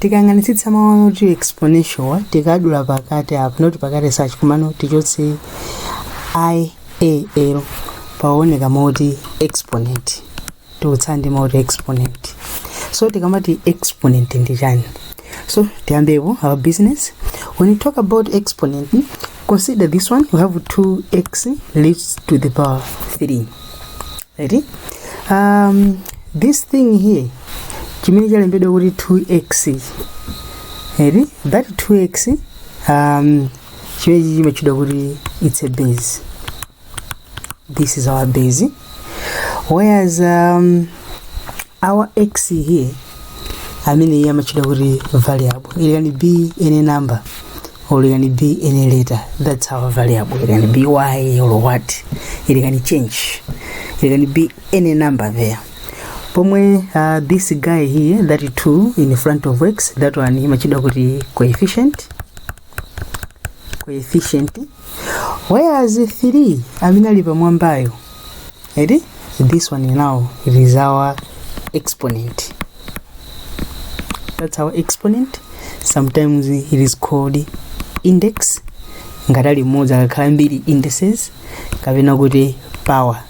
tikayang'anitsitsa mawu anoti exponential tikadula pakati apa noti pakati such komano tichotse i a l paoneka mawu oti exponent titsala ndi mawu oti exponent so tikamati exponent ndi chani so tiyambepo our business when you talk about exponent consider this one you have 2x raised to the power 3 Ready? Um, this thing here chimene chalembedwa kuti 2x eti that 2x um, chimenechi chimatchedwa kuti it's a base this is our base whereas um, our x here amene iye amatchedwa kuti variable it can be any number or it can be any letter that's our variable it can be y or what it can change it can be any number there pomwe uh, this guy here that 2 in front of x that one imatchedwa kuti coefficient coefficient whereas 3 amene ali pamwambayo eti this one now it is our exponent that's our exponent sometimes it is called index ngati ali mmodzi akakhala ambiri indices kapena kuti power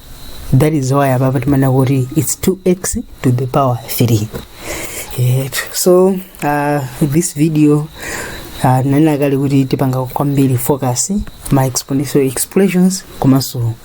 that is why apapa timanena kuti its 2x to the power 3 yeah. so uh, this video uh, ndanena kale kuti tipanga kwambiri focus ma exponential expressions komanso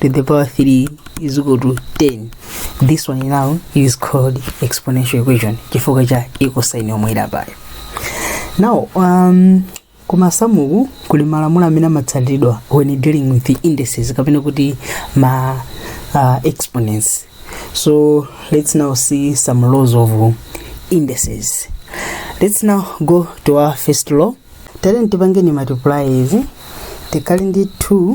to the power 3 is equal to 10 this one now is called exponential equation chifukwa cha equal sign yomwe ili apayo now um, ku masamuku kuli malamulo amene amatsatidwa when dealing with the indices kapena kuti ma uh, exponents so let's now see some laws of indices let's now go to our first law tiyeni tipangeni multiply izi tikhala ndi 2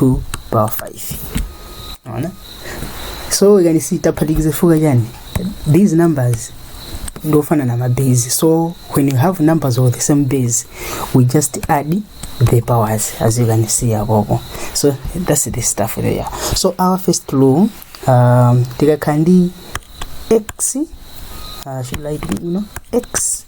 2 power 5 unaona so yani si taphatikiza fuka chani these numbers ndofana na mabase so when you have numbers of the same base we just add the powers as you can see akoko so that's the stuff there so our first law um, tikakhala ndi x uh, should I do, you know, x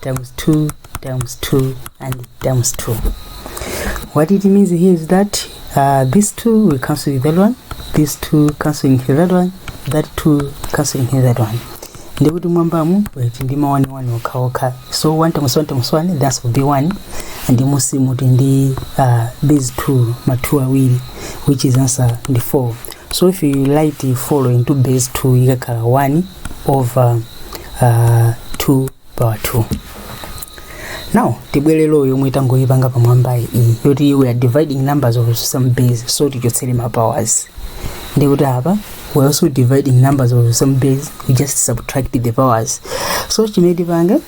times 2 times 2 and times 2 what it means here is that uh, these two will cancel with that one these two canceling with that one that two canceling with that one ndikuti mmwambamu mutsala ndi ma 1 1 okhaokha so 1 times 1 times 1 that's will be 1 and mmusimu mutsala ndi uh, these two ma 2 awiri which is answer ndi 4 so if you write follow into base 2 ikakhala 1 over uh, 2 power 2 now tibwerero yomwe tangoyipanga pamwamba iyi yoti we are dividing numbers of some base so tichotsere ma powers ndikuti apa we are also dividing numbers of some base we just subtract the powers so chimene tipange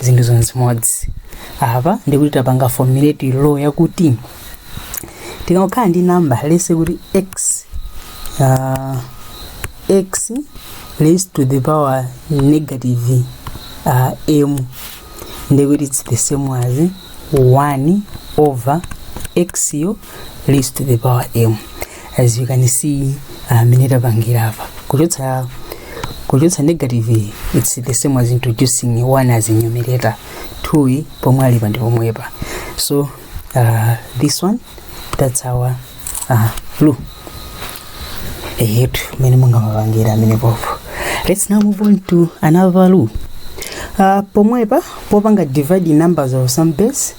zinthu zonse chimodzi apa ndikuti tapanga formulate law yakuti tikakhala ndi number let's say kuti x uh, x raised to the power negative uh, m ndikuti it's the same as 1 over x yo raised to the power m as you can see amene tapangira apa kuchotsa kuchotsa negative it's the same as introducing one as a numerator two pomwe ali pa ndi pomwepa so uh, this one that's our uh, blue eyetu mene mungamapangira amene popo let's now move on to another value uh, pomwepa popanga divide numbers of some base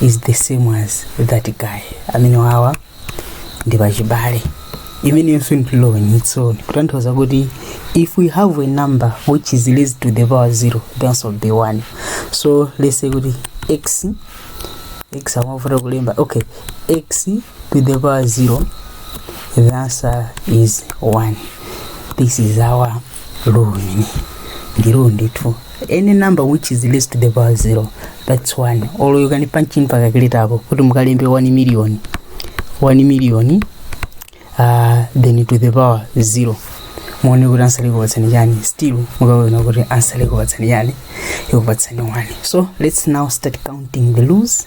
is the same as that guy amene awawa ndi pachibale imeneyonso ndi law on its own kutanthauza kuti if we have a number which is raised to the power 0 the answer will be 1 so let's say kuti x x amavuta kulemba okay x to the power 0 the answer is 1 this is our law number 2 any number which is raised to the power zero the answer is one or you can punch in pa calculator apo kuti mukalembe 1 million 1 million uh, then to the power zero muone kuti ansa ikupatsani chani still mukaona kuti ansa ikupatsani chani ikupatsani 1 so let's now start counting the laws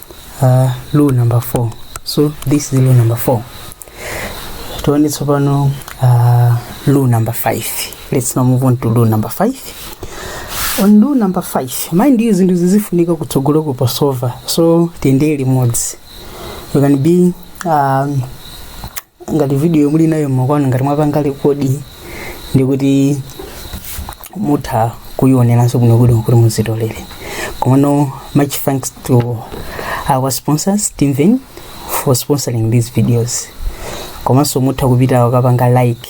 uh, rule number 4 so this is rule number 4 tione tsopano uh, rule number 5 let's now move on to rule number 5 on rule number 5 mind you zinthu zizifunika kutsogoloko pasova so tiyendere limodzi you can be um, ngati video muli nayo mokwanu ngati mwapanga rekodi ndikuti mutha kuioneranso n'nokha kuti muzitolere komano much thanks to our sponsor steven for sponsoring these videos komanso mutha kupita ukapanga like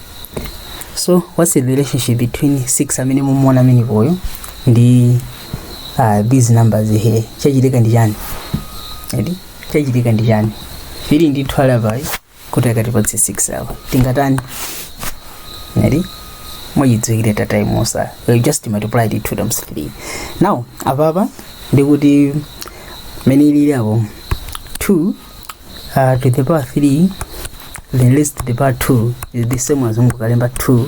so what's the relationship between 6 amene mukumuona amenepoyo ndi uh, these numbers here chachitika ndi chani eti chachitika ndi chani fili ndi 2 apayi kuti akatipatse 6 awa tingatani eti mwachidziwikire tatayimusa you just multiply the two times three now apapa ndikuti mene ilili apo 2 uh, to the power 3 then raised to the power 2 is the same as kungokalemba 2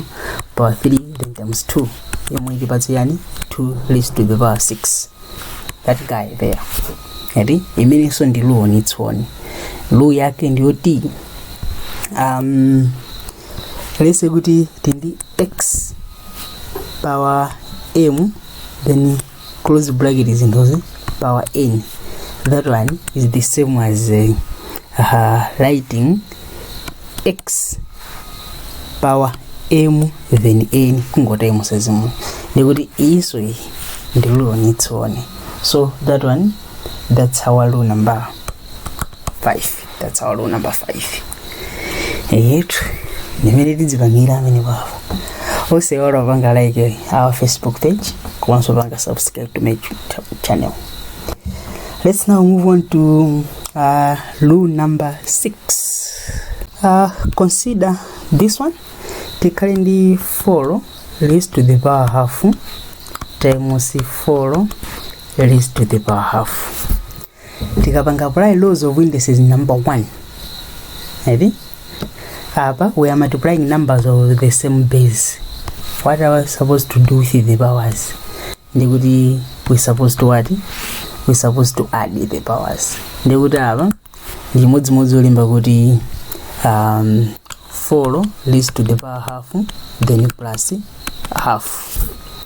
power 3 then times 2 yomwe itipatse chani 2 raised to the power 6 that guy there eti imenenso ndi law on its own law yake ndiyoti um, let's say kuti tili ndi x power m then close bracket zinthuzi power n that one is the same as uh, uh, writing x power m then n kungotemo sezimwe ndikuti iyiso iyi ndi rule on its own so that one that's our rule number 5 tatsawa lo namba 5 yetu nimene tidzipangira amene wawa osewala wapanga like our facebook page komanso wapanga subscribe to my YouTube channel let's now move on to uh, lu number 6 uh, consider this one tikhale ndi 4 raised to the power half times 4 raised to the power half tikapanga apply laws of indices number one eti apa we are multiplying numbers of the same base what are we supposed to do with the powers ndikuti we supposed to what we supposed to add the powers ndikuti apa ndi chimodzimodzi olemba kuti um, 4 leads to the power half then plus half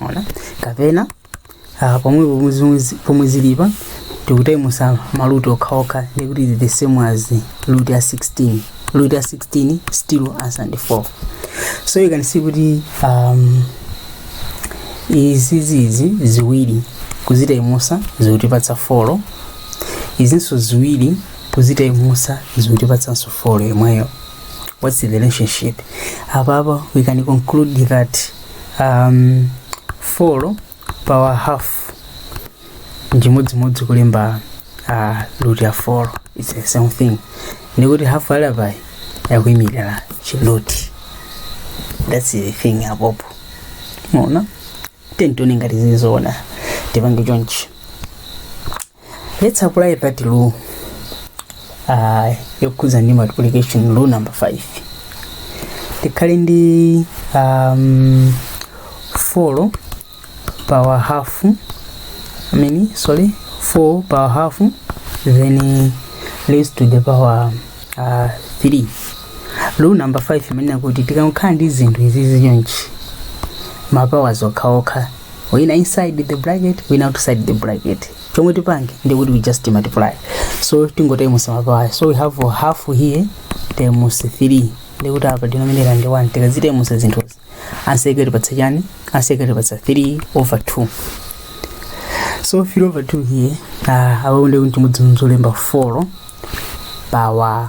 ona kapena ah, pomwe pomwe zomwe- pomwe zilipa tikutayimusa maluti okhaokha ndikuti is the same as luti ya 16 luti ya 16 still answer ndi 4 so you can see kuti um, izizizi ziwiri kuzitayimusa zikutipatsa 4 izinso ziwiri kuzitayimusa zikutipatsanso 4 yomweyo what's the relationship apapa we can conclude that um, folo pawa hafu nchimodzimodzi kulemba uh, root ya folo its the same thing ndikuti hafu ali apayi yakuyimirira chiluti thats the thing apopo mwaona then tione ngati zili zoona tipange chonchi let's apply that law uh, yokhudza ndi multiplication law number 5 tikhale ndi um, 4 power half I mean, sorry 4 power half then raised to the power uh, 3 law number 5 imanena kuti tikamakhala ndi zinthu izi chonchi mapawa zokhaokha wina inside the bracket wina outside the bracket chomwe tipange ndi kuti we just multiply so tingotaimusa mapawa so we have half here times 3 ndiye kuti apa denominator ndi 1 tikazitaimusa zinthuzi ansa ikutipatsa chani ansa ikutipatsa 3 over 2 so 3 over 2 here uh, apa ndiye kuti ndi chimodzimodzi kulemba 4 power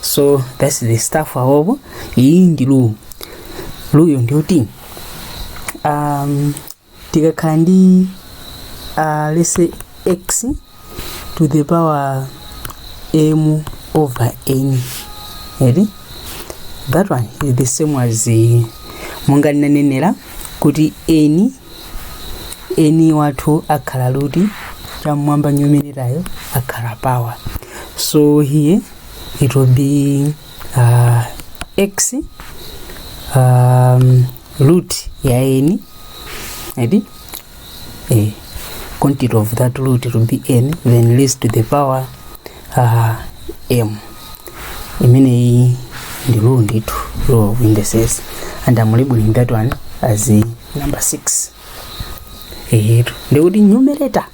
so that's the stuff apapo iyi ndi rule ruleyo ndi yoti um, tikakhala ndi uh, let's say x to the power m over n eri that one is the same as uh, monga ndinanenera kuti n eni wathu akhala luti cham'mwamba nyumiritayo akhala power so here it will be uh, x um, root ya eni edi eh, quantity of that root will be n then raised to the power Ah, em imeneyi ndi rule ndithu rule of indices and I'm labeling that one as a number 6 eyetu ndiye kuti numerator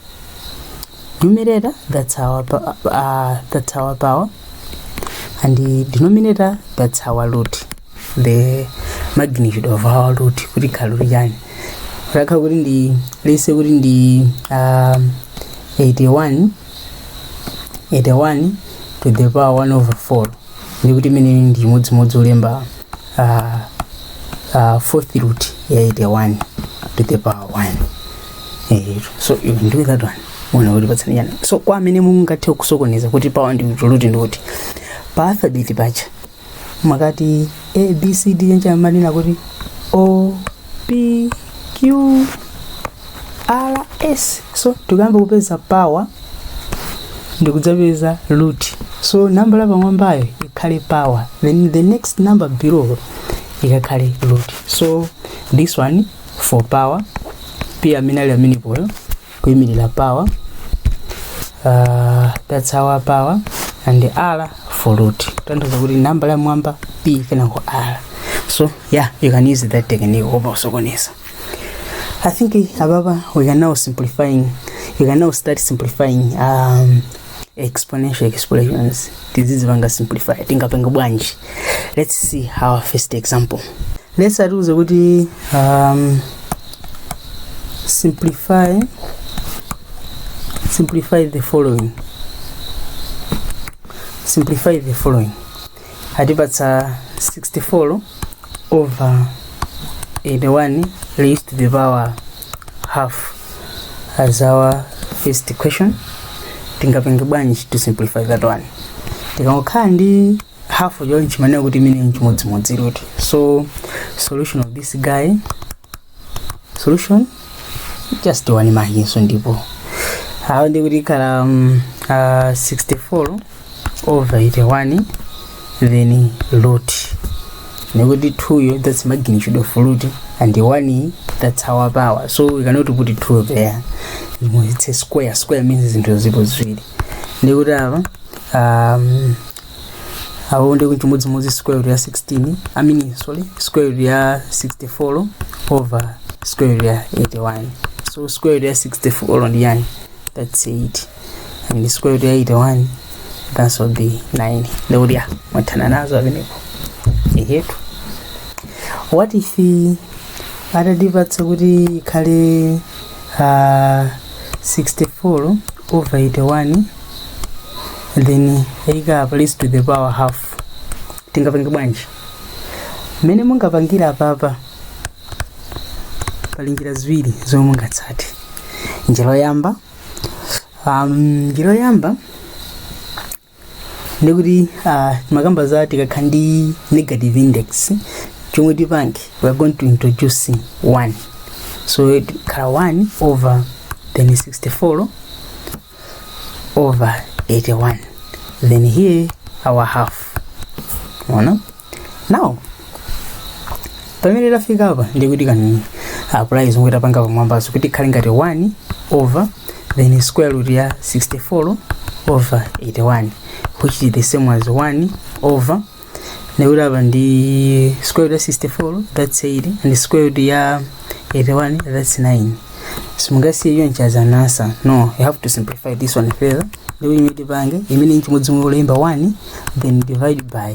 numerator that's our pa- uh, that's our power and the denominator that's our root the magnitude of our root kuti kalori chani rakha kuti ndi let's say kuti ndi um, 81 81 to the power 1 over 4 ndiye kuti imeneyi ndi chimodzimodzi kulemba ah, ah, fourth root ya 81 to the power 1 Eh, so you can do that one muona kuti ikutipatsa chani so kwa amene mungathe kusokoneza kuti power ndi root ndiye kuti pa alphabet paja mukati a b c d paja amanena kuti o p q r s so tikuyamba kupeza power ndikudzapeza root so namba la pamwambayo ikhale power then the next number below ikakhale root so this one for power p amene ali amenepoyo kuyimirira power uh, that's our power and r for root tanthauza kuti namba la mwamba p kenako r so yeah you can use that technique opa usokoneza i think ababa we can now simplifying you can now start simplifying um, exponential expressions tizizipanga simplify tingapanga bwanji let's see our first example let's say atiuza kuti um, simplify simplify the following simplify the following atipatsa 64 over 81 raised to the power half as our first question tingapange bwanji to simplify that one tikangokhala ndi half yo tikumanena kuti imene nchimodzimodzi root so solution of this guy solution just one mahinso ndipo awo ndi kuti ikhala um, uh, 64 over 81 then root nekuti 2 yo that's magnitude of root and 1 that's our power so we cannot put 2 there You know, it's a square square means zinthu zilipo ziwiri ndikuti apa um, apo ndi chimodzimodzi square root ya 16 i mean sorry square root ya 64 over square root ya 81 so square root ya 64 ndi yani that's 8 and square root ya 81 that would be 9 ndikuti apa mwathana nazo amenepo ehetu what if atatipatsa kuti ikhale uh, 64 over 81 then ikhale apa raised to the power half tingapange bwanji mmene mungapangira apapa pali njira ziwiri zomwe mungatsate njira yoyamba um, njira yoyamba ndikuti uh, timakamba za tikakhala ndi negative index chomwe tipange we are going to introduce 1 so tikhala 1 over then 64 over 81 then here our half now now pamene tafika apa ndi kuti tikupanga apply zomwe tapanga pamwambazo kuti ikhale ngati 1 over then square root ya 64 over 81 which is the same as 1 over ndikuti apa ndi square root ya 64 that's 8 and square root ya 81 that's 9 simungasiye iyo as an answer no you have to simplify this one further ndikuti chimene tipange imene nchimodzimodzi kulemba 1 then divide by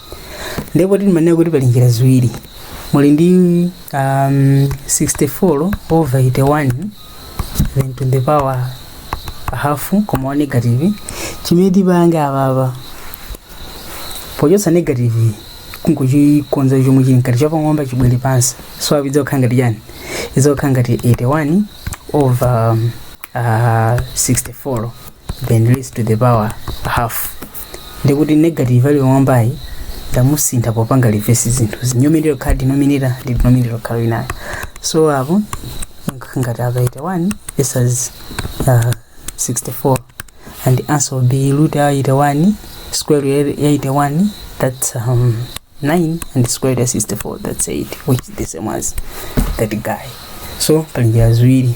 ndipo timanena kuti pali njira ziwiri muli ndi um, 64 over 81 then to the power half koma wa negative chimene tipange apapa pochotsa negative n'kungochikonza chomwe chili mkati chapamwamba chibwere pansi so apa idzakhala ngati chani idzakhala ngati 81 over um, uh, 64 then raised to the power half ndikuti negative ali m'mwambayi ndamusintha popanga reverse zinthu numerator kukhala denominator ndi denominator kukhala inayo so apo ngati apa 81 this is uh, 64 and the answer will be root ya 81 square root ya 81 that's um, 9 and square root ya 64 that's 8 which is the same as that guy so pali njira ziwiri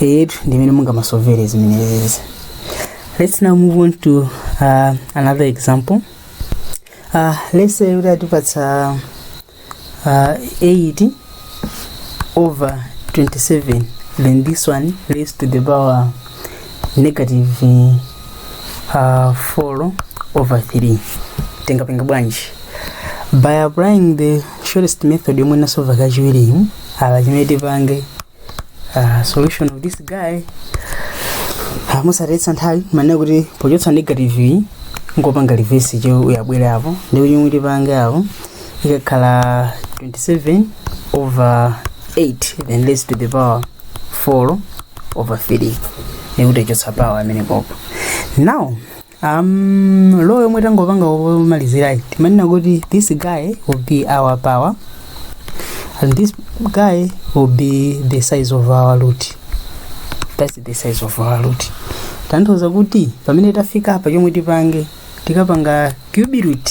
eyetu ndi imene mungamasovere zimenezi let's now move on to uh, another example uh, let's say kuti atipatsa uh, 8 over 27 then this one raised to the power negative uh, 4 over 3 tingapenga bwanji by applying the shortest method yomwe nditasove kachiwirimu apa chimene tipange uh, solution of this guy uh, osataya nthawi timanena kuti pochotsa negative iyi n'kupanga reverse cho uyabwere apo ndiye kuti chomwe tipange apo ikakhala 27 over 8 then raised to the power 4 over 3 ndiye kuti tachotsa power amene apopo now Um, law yomwe tangopanga yomalizirayi timanena kuti this guy will be our power and this guy will be the size of our root that's the size of our root kutanthauza kuti pamene tafika apa chomwe tipange tikapanga cube root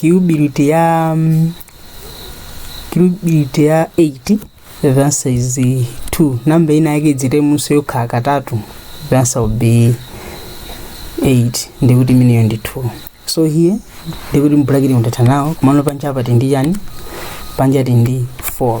Cube root ya mm, cube root ya 8 the answer is 2 namba ina yake izitimes yokhala katatu the answer will be 8 ndiye kuti imeneyo ndi 2 so here ndiye kuti mbulakiti mu tathana nawo komano panja apa tili ndi chani panja tili ndi 4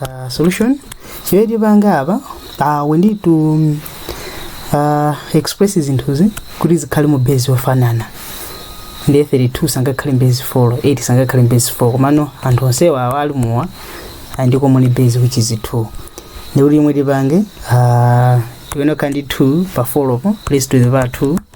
uh, solution chimene tipanga apa uh, we need to uh, express zinthuzi kuti zikhale mu base yofanana ndiye 32 sangakhale mbase 4 8 sangakhale mbase 4 komano anthu onsewa awa ali muwa a ndi common base which is 2 ndiye kuti chimene tipange uh, tiyenera kukhala ndi 2 pa 4 po raised to the power 2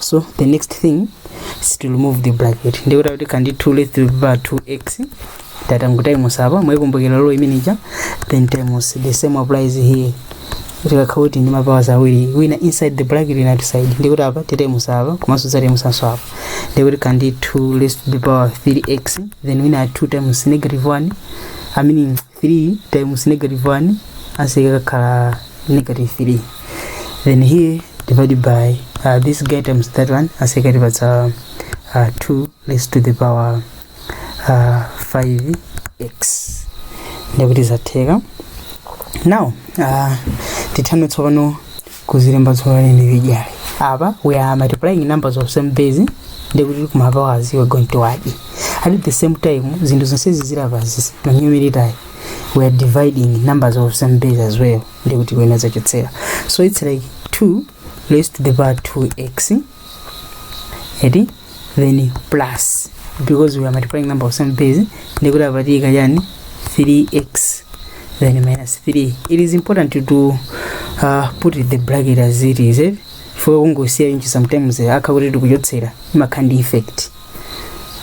so the next thing is to remove the bracket ndiye kuti tikhala ndi 2 raised to the power 2x titangotimes apa mwayikumbukira law imene ija then times the same applies here tikakhala kuti ndi mapawers awiri wina inside the bracket wina outside ndiye kuti apa titimes apa komanso tizatimesanso apa ndiye kuti tikhala ndi 2 raised to the power 3x then wina 2 times negative 1 i mean 3 times negative 1 answer ikakhala negative 3 then here divided by uh, this guy times that one answer ikatipatsa uh, 2 raised to the power uh, 5x ndikuti zatheka now uh, tithame tsopano kuzilemba tsopano individually apa we are multiplying numbers of same base ndiye kuti kumapowers we're going to add at the same time zinthu zonse zili apazi zili pa numerator we are dividing numbers of same base as well ndiye kuti kwinako tizachotsera so it's like 2 raised to the power 2x eti then plus because we are multiplying number of some base ndikuti apa tiyika chani 3x then minus 3 it is important to do uh, put the bracket as it is eh? for kungosiya inchi sometimes eh, akha kuti tikuchotsera imakhala ndi effect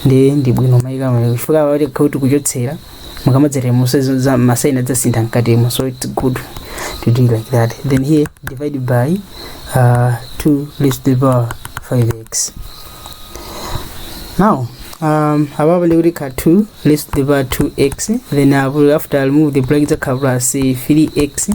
ndi ndi bwino kumaika ma- chifukwa pakakhala kuti kuchotsera mukamadzatimesa masaini adzasintha mkatimo so it's good to do like that then here divided by uh, 2 raised to the power 5x now um, apapa ndiye kuti ikhala 2 raised to the power 2x then apo after I remove the bracket izakhala plus 3x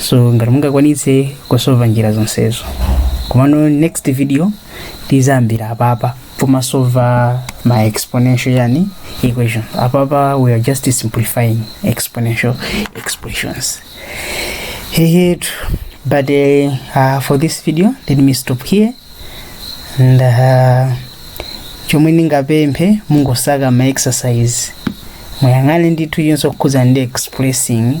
so ngati mungakwanitse kusova njira zonsezo komano next video tizayambira apapa pomasova ma exponential equation apapa we are just simplifying exponential expressions hehe but uh, uh, for this video let me stop here and uh, chomwe ndingapemphe mungosaka ma exercise muyang'ane ndithu onse okhudza ndi expressing